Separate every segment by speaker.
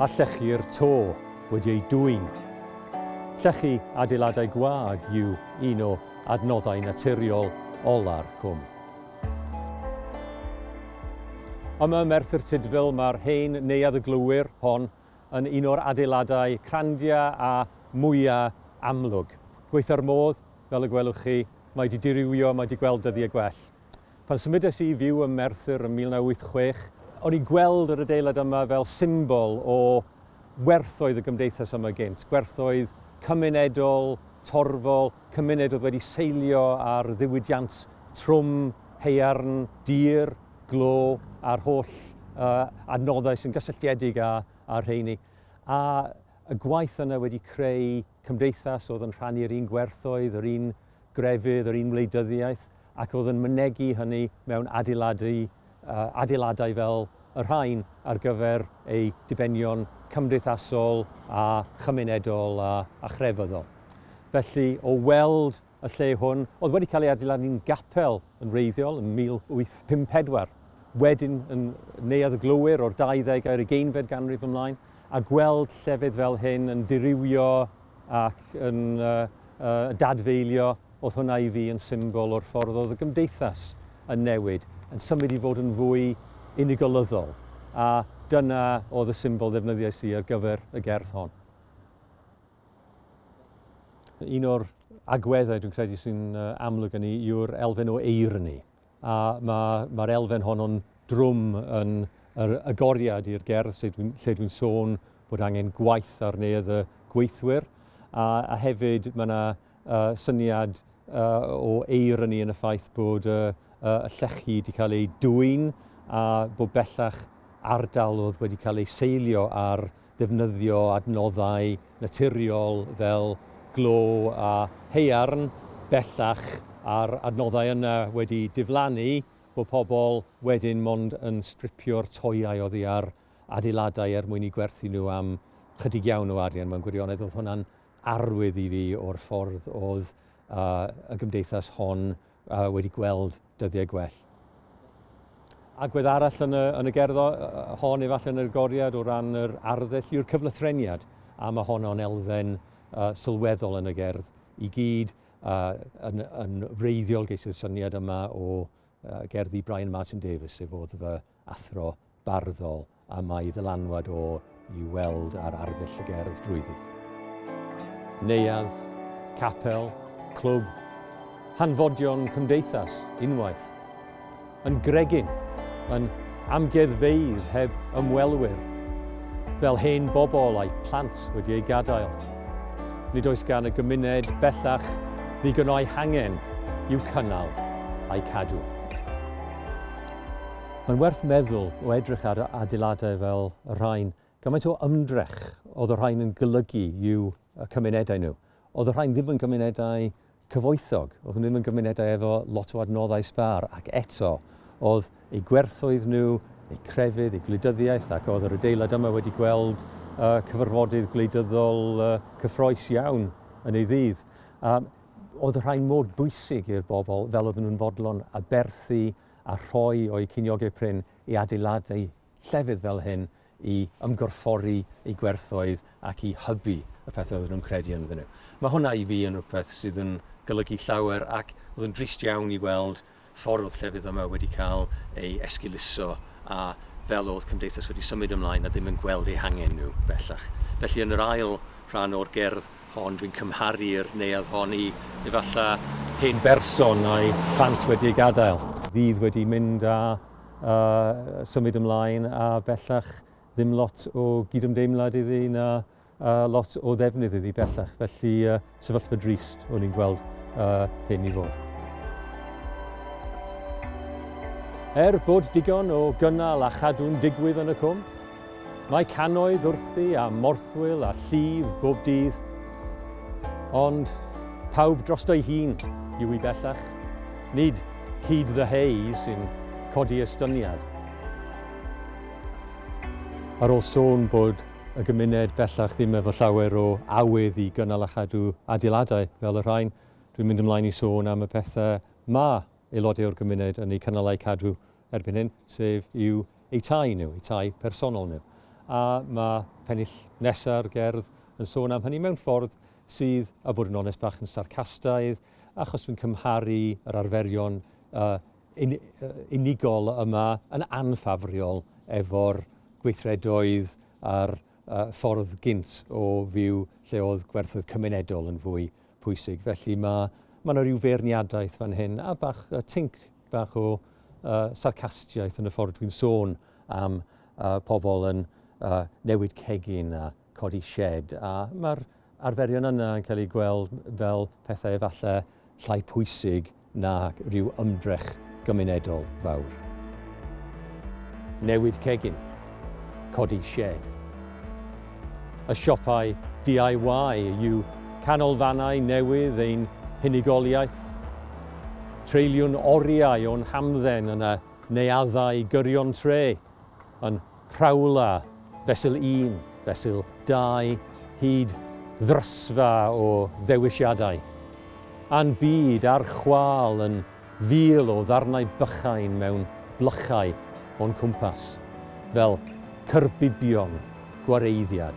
Speaker 1: a llechi'r to wedi ei dwyn. Llechi adeiladau gwag yw un o adnoddau naturiol ola'r cwm. Yma ym Merthyr Tudful mae'r hen Neuadd y Glowyr hon yn un o'r adeiladau crandia a mwya amlwg. Gweitha'r modd, fel y gwelwch chi, mae wedi dirywio, mae wedi gweld dyddiau gwell. Pan symudes i i fyw ym Merthyr ym 1986, o'n i'n gweld yr adeilad yma fel symbol o werthoedd y gymdeithas yma gynt, gwerthoedd cymunedol, torfol, cymuned oedd wedi seilio ar ddiwydiant trwm, haearn, dir, glo a'r holl uh, adnoddau sy'n gysylltiedig â, â'r rheini. A y gwaith yna wedi creu cymdeithas oedd yn rhannu'r un gwerthoedd, yr un grefydd yr un wleidyddiaeth ac oedd yn mynegi hynny mewn adeiladu, adeiladau fel y rhain ar gyfer eu dibenion cymdeithasol a chymunedol a, a chrefyddol. Felly, o weld y lle hwn, oedd wedi cael ei adeiladu'n gapel yn wreiddiol yn 1854, wedyn yn Neuadd y Glowyr o'r 20 ar ugeinfed ganrif ymlaen, a gweld llefydd fel hyn yn dirywio ac yn dadfeilio, oedd hwnna i fi yn symbol o'r ffordd oedd y gymdeithas yn newid, yn symud i fod yn fwy unigolyddol, a dyna oedd y symbol ddefnyddiais i ar gyfer y gerdd hon. Un o'r agweddau dwi'n credu sy'n amlwg yn ni yw'r elfen o eirni. A mae'r ma, ma elfen honno'n drwm yn yr agoriad i'r gerdd lle dwi'n dwi sôn bod angen gwaith ar neuadd y gweithwyr. A, a hefyd mae yna syniad o eironi yn y ffaith bod y llechi wedi cael eu dwyn a bod bellach ardal oedd wedi cael ei seilio ar ddefnyddio adnoddau naturiol fel glo a haearn, bellach a'r adnoddau yna wedi diflannu, bod pobl wedyn mond yn stripio'r toeau oddi ar adeiladau er mwyn eu gwerthu nhw am chydig iawn o arian mewn gwirionedd. Oedd hwnna'n arwydd i fi o'r ffordd oedd y gymdeithas hon wedi gweld dyddiau gwell. Agwedd arall yn y, yn y gerdd hon, efallai yn yr goriad o ran yr arddull, yw'r cyflythreniad, a mae hon o'n elfen uh, sylweddol yn y gerdd i gyd, uh, yn, yn wreiddiol geisir syniad yma o uh, gerddi Brian Martin Davis, sef oedd fy athro barddol a mae ddylanwad o i weld ar arddull y gerdd drwyddi. Neuadd, capel, clwb, hanfodion cymdeithas, unwaith. Yn gregyn, yn amgueddfeydd heb ymwelwyr, fel hen bobl a'i plant wedi ei gadael. Nid oes gan y gymuned bellach ddigon o'i hangen i'w cynnal a'i cadw. Mae'n werth meddwl o edrych ar adeiladau fel y rhain, gymaint o ymdrech oedd y rhain yn golygu i'w cymunedau nhw. Oedd y rhain ddim yn gymunedau cyfoethog, oedd nhw ddim yn gymunedau efo lot o adnoddau sbâr, ac eto, oedd eu gwerthoedd nhw, eu crefydd, eu gwleidyddiaeth, ac oedd yr adeilad yma wedi gweld cyfarfodydd gwleidyddol cyffroes iawn yn ei ddydd. Oedd y rhain mor bwysig i'r bobl fel oedden nhw'n fodlon aberthu a rhoi o'u ceiniogau prin i adeiladu llefydd fel hyn i ymgorffori eu gwerthoedd ac i hybu y pethau oedden nhw'n credu ynddyn nhw. Mae hwnna i fi yn rhywbeth sydd yn golygu llawer ac oedd yn drist iawn i weld ffordd oedd llefydd yma wedi cael ei esgeuluso a fel oedd cymdeithas wedi symud ymlaen a ddim yn gweld eu hangen nhw bellach. Felly yn yr ail rhan o'r gerdd hon, dwi'n cymharu'r neuadd hon i efallai hen berson a'i phlant wedi ei gadael, ddydd wedi mynd a symud ymlaen a bellach ddim lot o gydymdeimlad iddi na lot o ddefnydd iddi bellach, felly sefyllfa drist o'n i'n gweld hyn i fod. Er bod digon o gynnal a chadw'n digwydd yn y cwm, Mae cannoedd wrthi a morthwyl a llif bob dydd, ond pawb drosto'i hun yw hi bellach, nid hyd the hay sy'n codi estyniad. Ar ôl sôn bod y gymuned bellach ddim efo llawer o awydd i gynnal a chadw adeiladau fel y rhain, dwi'n mynd ymlaen i sôn am y pethau ma' aelodau o'r gymuned yn eu cynnal a'u cadw erbyn hyn, sef i'w eu tai nhw, eu tai personol nhw. A mae pennill nesa'r gerdd yn sôn am hynny mewn ffordd sydd, a bod yn onest, bach yn sarcastaidd, achos dwi'n cymharu yr arferion uh, un, uh, unigol yma yn anffafriol efo'r gweithredoedd a'r uh, ffordd gynt o fyw lle oedd gwerthoedd cymunedol yn fwy pwysig. Felly mae mae yna rhyw feirniadaeth fan hyn a bach uh, tinc bach o uh, sarcastiaeth yn y ffordd dwi'n sôn am uh, pobl yn uh, newid cegin a codi shed. A mae'r arferion yna yn cael eu gweld fel pethau efallai llai pwysig na rhyw ymdrech gymunedol fawr. Newid cegin, codi shed. y siopau DIY yw canolfannau newydd ein hunigoliaeth. Treuliwn oriau o'n hamdden yn y neuaddau gyrion tre, yn rhawla fesul un, fesul dau, hyd ddrysfa o ddewisiadau. A'n byd ar chwâl yn fil o ddarnau bychain mewn blychau o'n cwmpas, fel cyrbibion gwareiddiad.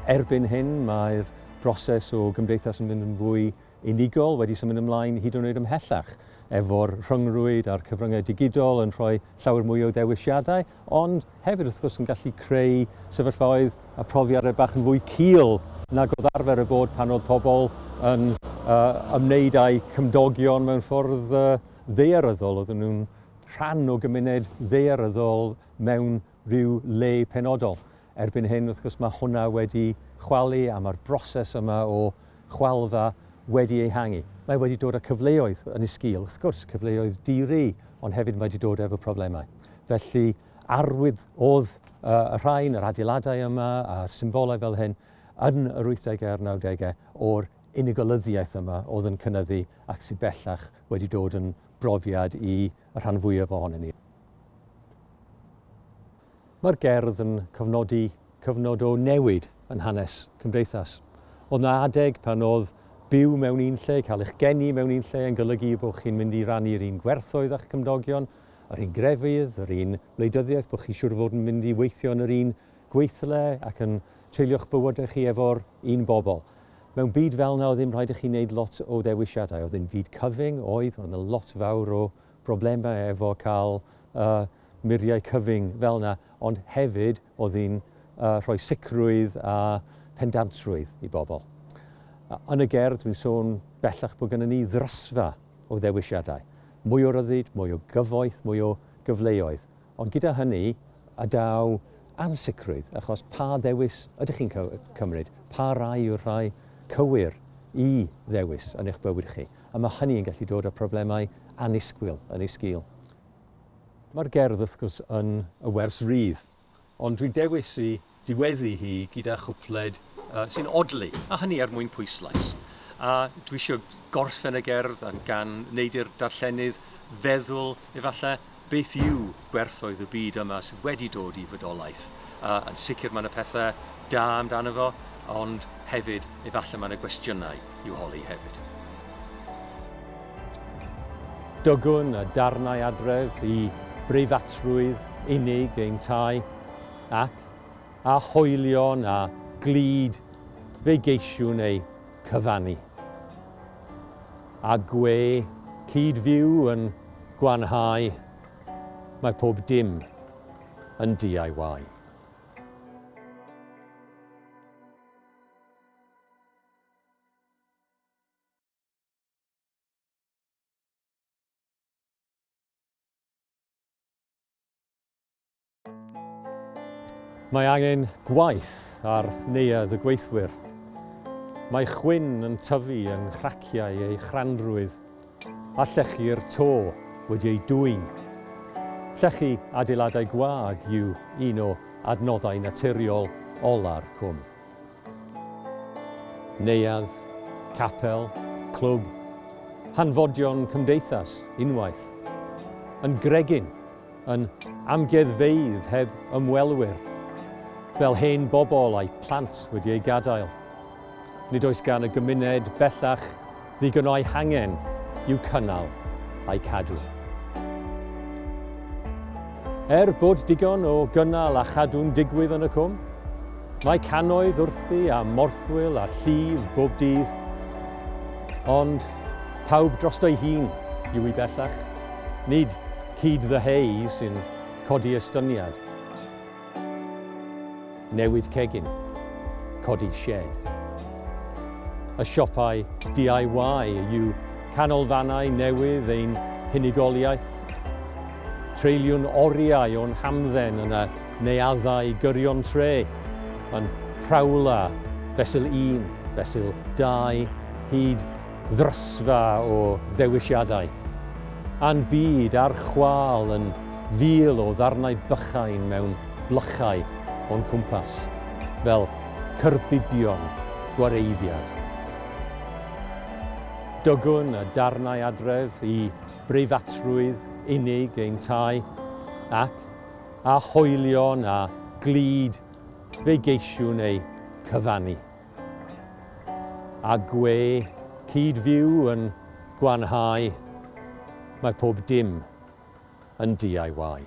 Speaker 1: Erbyn hyn, mae'r broses o gymdeithas yn mynd yn fwy unigol, wedi symud ymlaen hyd yn oed ymhellach, efo'r rhyngrwyd a'r cyfryngau digidol yn rhoi llawer mwy o ddewisiadau, Ond hefyd wrth gwrs yn gallu creu sefyllfaoedd a profiadau bach yn fwy cul nag oedd arfer y bod pan oedd pobl yn uh, ymwneud â'u cymdogion mewn ffordd uh, ddearyddol. Oedden nhw'n rhan o gymuned ddearyddol mewn rhyw le penodol. Erbyn hyn, wrth gwrs, mae hwnna wedi chwalu a mae'r broses yma o chwaldda wedi ei hangu. Mae wedi dod â cyfleoedd yn ei sgil, wrth gwrs, cyfleoedd di-ri, ond hefyd mae wedi dod efo problemau. Felly, arwydd oedd uh, y rhain, yr adeiladau yma a'r symbolau fel hyn yn yr 80au a'r 90au o'r unigolyddiaeth yma oedd yn cynnyddu ac sy'n bellach wedi dod yn brofiad i y rhan fwyaf ohonyn ni. Mae'r gerdd yn cofnodi cyfnod o newid yn hanes cymdeithas. Oedd 'na adeg pan oedd byw mewn un lle, cael eich geni mewn un lle yn golygu eu bod chi'n mynd i rannu'r un gwerthoedd â'ch cymdogion, yr un grefydd, yr un wleidyddiaeth, bod chi siŵr o fod yn mynd i weithio yn yr un gweithle ac yn treulio'ch bywydau chi efo'r un bobl. Mewn byd fel 'na oedd ddim rhaid i chi wneud lot o ddewisiadau, oedd hi'n fyd cyfyng, oedd, oedd 'na lot fawr o broblemau efo cael y muriau cyfyng fel yna, ond hefyd oedd hi'n uh, rhoi sicrwydd a pendantrwydd i bobl. Yn y gerdd, dwi'n sôn bellach bod gennym ni ddrysfa o ddewisiadau. Mwy o ryddid, mwy o gyfoeth, mwy o gyfleoedd. Ond gyda hynny, a daw ansicrwydd, achos pa ddewis ydych chi'n cymryd? Pa rai yw'r rhai cywir i ddewis yn eich bywyd chi? A mae hynny yn gallu dod â problemau annisgwyl yn ei sgil. Mae'r gerdd wrth gwrs yn y wers rydd, ond dwi'n dewis i ddiweddu hi gyda chwpled sy'n odli, a hynny er mwyn pwyslais. A dwi isio gorffen y gerdd yn gan wneud i'r darllenydd feddwl efallai beth yw gwerthoedd y byd yma sydd wedi dod i fydolaeth. A, yn sicr mae yna pethau da amdano fo, ond hefyd efallai mae yna gwestiynau. i'w holi hefyd. Dygwn y darnau adref i breifatrwydd unig ein tai, ac, â hoelion a glud, fe geisiwn eu cyfannu. A gwe cyd-fyw yn gwanhau, mae pob dim yn DIY. Mae angen gwaith ar neuadd y gweithwyr. Mae chwyn yn tyfu yng nghraciau ei chranrwydd a llechi'r to wedi ei dwyn. Llechi adeiladau gwag yw un o adnoddau naturiol ola'r cwm. Neuadd, capel, clwb, hanfodion cymdeithas, unwaith. Yn gregyn, yn amgueddfeydd heb ymwelwyr, fel hen bobl a'u plant wedi eu gadael. Nid oes gan y gymuned bellach Ddigon o'i hangen i'w cynnal a'i cadw. Er bod digon o gynnal a chadw'n digwydd yn y cwm, mae cannoedd wrthi a morthwyl a llif bob dydd, ond pawb drosto'i hun yw hi bellach, nid hyd the hay sy'n codi estyniad. Newid cegin. Codi sied. Y siopau DIY yw canolfannau newydd ein hunigoliaeth. Treuliwn oriau o'n hamdden yn y neuaddau gyrion tre, yn Prowler, Fesul Un, Fesul Dau, hyd ddrysfa o ddewisiadau, a'n byd ar chwâl yn fil o ddarnau bychain mewn blychau o'n cwmpas, fel cyrbidion gwareiddiad. Dygwn y darnau adref i breifatrwydd unig ein tai, ac, â hoelion a glud, fe geisiwn eu cyfannu. A gwe cyd fyw yn gwanhau, mae pob dim yn DIY.